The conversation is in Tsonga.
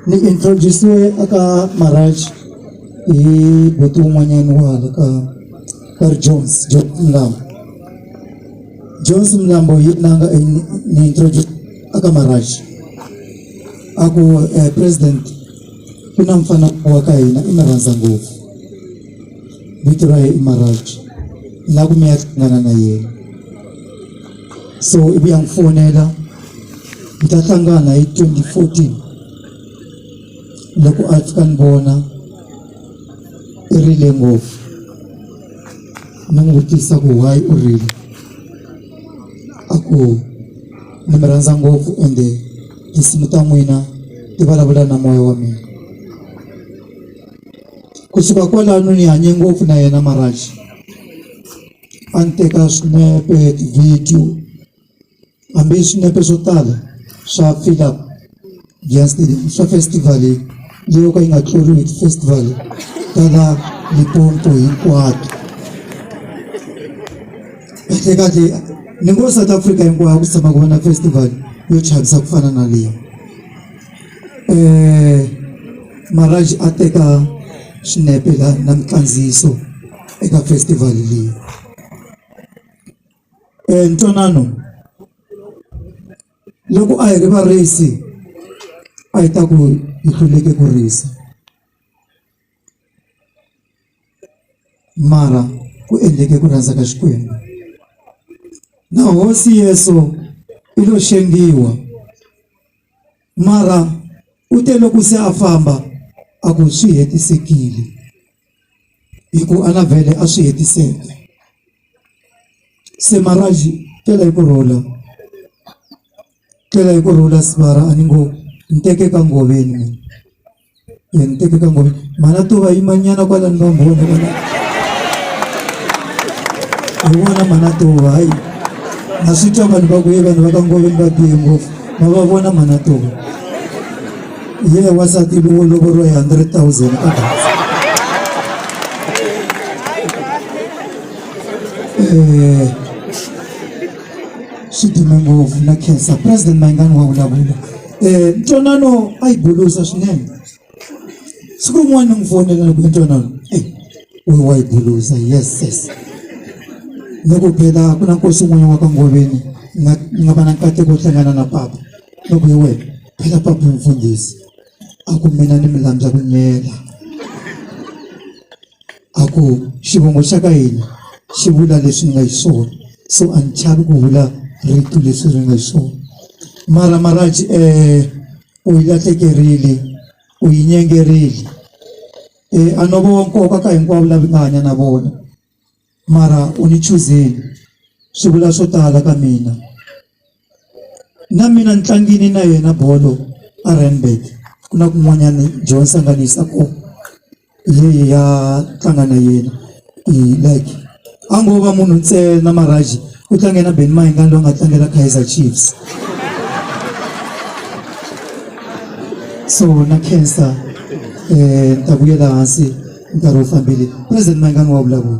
Ni introduce-we a ka Marach hi buti wun'wanyani wa hala ka va ri Jones Jones Mlambo Jones Mlambo hi la nga ni introduce a ka Marach a ku president ku na mufana wa ka hina i mi rhandza ngopfu vito ra ye i Marach ni la ku mi ya hlangana na yena so ivi a ni fonela. Hi ta hlangana hi twenty fourteen loko a ndzi ta n'wi vona i rila ngopfu ni n'wi vutisa ku why u rila a ku ni mi rhandza ngopfu ende tinsimu ta n'wina ti vulavula na moya wa mina kusuka kwalano ni hanye ngopfu na yena Maraz a ni teka swinepe ti-video. hambi swinepe swo tala swa Philip Giant Stadium swa festival leyo ka yi nga tluriwi festival ta la Limpopo hinkwato kahlekahle ni ngo South Africa hinkwayo ku tshama ku va na festival yo chavisa ku fana na leyi um Maraj a teka swinepe la na mikandziyiso eka festival leyi ntwanano loko a hi ri varisi a hi ta ku hi hluleke ku risa mara ku endleke ku rhandza ka Xikwembu na hosi Yesu i lo xengiwa mara u te loko se a famba a ku swi hetisekile. hi ku a nga vhele a swi hetiseka se Marhaxi tela hi ku rhula tela hi ku rhula Sibara a ni ngo ni teke ka ngoveni mina ya ni teke ka ngoveni mhana to va yimanyana kwalani va mbhoni vona hi vona mhana to va hayi na swi twa vanhu va ku ye vanhu va ka ngoveni va bihe ngopfu va va vona mhana to va ye yeah, wasati vo lovoriwa hi 100 000 ka data eh, swi dume ngopfu na khensa president mayingani wa vulavula eh, ntwanano a yi bulusa swinene siku rin'wana ni n'wi fonela ni ku ntwanano eh, we wa yi bulusa yes yes ni ku phela ku na nkosi un'wana wa ka ngoveni nga va na nkateko wo hlangana na papa loko hi wena phela papa mfundhisi a ku mina ni mi landza ku nyela a ku xivongo xa ka hina xi vula leswi ni nga hi swona so a ni chavi ku vula rito leswi ri nga hi swona mara maraji um eh, u yi lahlekerile u yi nyengerile um eh, a no vo nkoka ka hinkwavo lavi nga hanya na vona mara u ni chuzile swi vula swo tala ka mina na mina ni tlangini na yena bolo a Randburg ku na kun'wanyana John Sanganisa ko leyi ya tlanga na yena like a ngo va munhu ntsena maraji u tlange na Ben Mayengani loyi a nga tlangela Kaizer Chiefs so na cancer um ni ta vuyela hansi nkarhi wu fambile president Mayengani wa vulavula.